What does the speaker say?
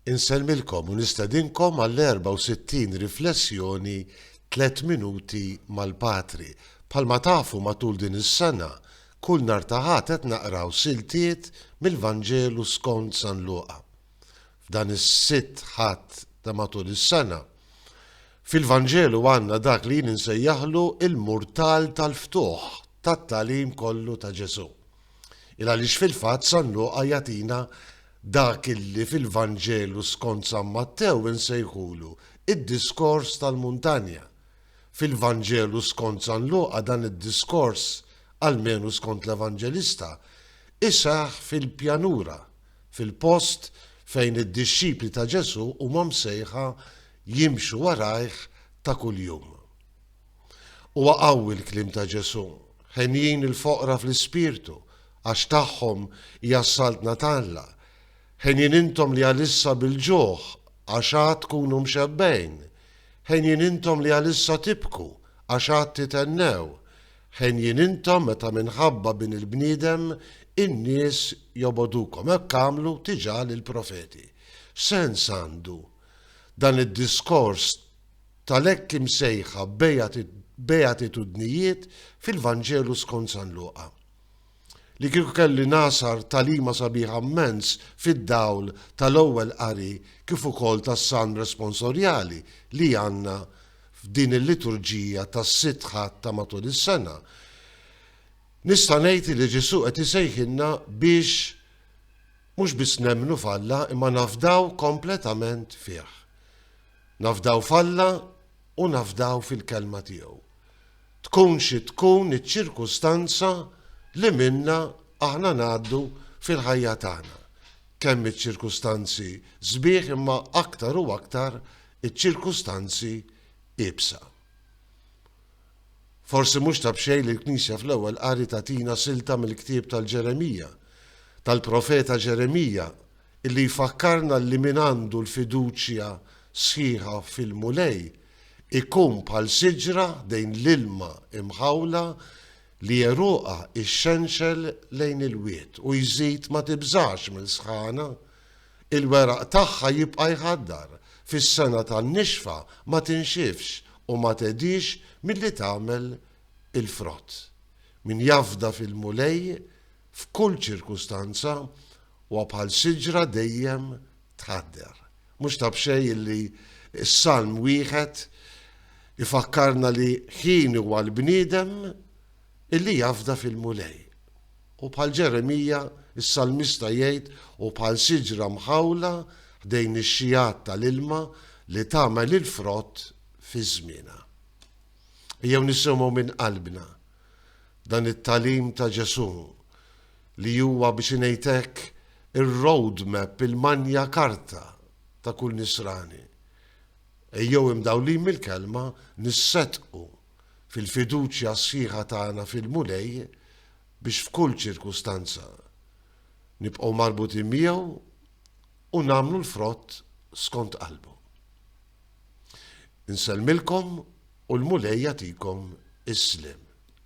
Insellmilkom u nistedinkom għall-64 riflessjoni Tliet Minuti mal-Patri. Bħalma tafu matul din is-sena, kull nhar ta' Ħadd qed naqraw siltiet mill-Vanġelu skont San Luqa. F'dan is-sitt Ħadd ta' matul is-sena, fil-Vanġelu għandna dak li jien insejjaħlu l-murtal tal-ftuħ tat-tagħlim kollu ta' Ġesù. Il għaliex fil-fatt San Luqa jagħtina dak illi fil-Vanġelu skont San Mattew insejħulu id-Diskors tal-Muntanja. Fil-Vanġelu skont San Luqa dan id-diskors, almenu skont l-Evanġelista, iseħħ fil-pjanura, fil-post fejn id-dixxipli ta' Ġesù huma msejħa jimxu warajh ta' kuljum. Huwa qawwi l-kliem ta' Ġesù, Henjin il-foqra fl-ispirtu, għax tagħhom hija s-saltna ta' Alla. Henjin intom li għalissa bil-ġuħ, għax għad tkunu mxebbgħin. Henjin intom li għalissa tibku, għax għad tithennew. Henjin intom meta minħabba Bin il-bniedem in-nies jobogħdukom. Hekk għamlu diġà lill-profeti. X'sens għandu dan id-diskors tal-hekk imsejħa beatitudnijiet fil-Vanġelu skont San Luqa. Li kieku kelli ngħasar tagħlima sabiħa mmens fid-dawl tal-ewwel qari kif ukoll tas-Salm Responsorjali li għandna f'din il-liturġija tas-Sitt Ħadd ta' matul is-sena, nista' ngħid li Ġesù qed isejħilna biex mhux biss nemmnu f'Alla imma nafdaw kompletament fih. Nafdaw f'Alla u nafdaw fil-Kelma tiegħu, tkun xi tkun iċ-ċirkustanza li minnha aħna ngħaddu fil-ħajja tagħna, kemm iċ-ċirkustanzi sbieħ imma aktar u aktar iċ-ċirkustanzi iebsa. Forsi mhux ta' b'xejn li l-Knisja fl-Ewwel Qari tagħtina silta mill-ktieb tal-Ġeremija, tal-profeta Ġeremija, li jfakkarna li min għandu l-fiduċja sħiħa fil-Mulej ikun bħal siġra ħdejn l-ilma imħawla li għeruqha ixxenxel lejn il-wied, u jżid ma tibżax mill-sħana, il-weraq tagħha jibqa' jħaddar, fis-sena tan-nixfa ma tinxifx u ma tedhiex milli tagħmel il-frott. Min jafda fil-Mulej F'kull ċirkustanza, huwa bħal siġra dejjem tħadder. Mhux ta' b'xejn illi s-Salm wieħed ifakkarna li ħin huwa l-bniedem illi jafda fil-Mulej. U bħal Ġeremija, is-Salmista jgħid hu bħal siġra mħawla ħdejn ix-xijgħat tal-ilma li tagħmel il-frott fi żmienha. Ejjew nisimgħu minn qalbna dan it-tagħlim ta' Ġesù li huwa biex ngħid hekk ir-road map, il-magna carta ta' kull Nisrani. Ejjew imdawlin mill-Kelma nisseddqu fil-fiduċja sħiħa tagħna fil-Mulej biex f'kull ċirkustanza nibqgħu marbutin miegħu u nagħmlu l-frott skont qalbu. Insellmilkom u l-Mulej jagħtikom is-sliem.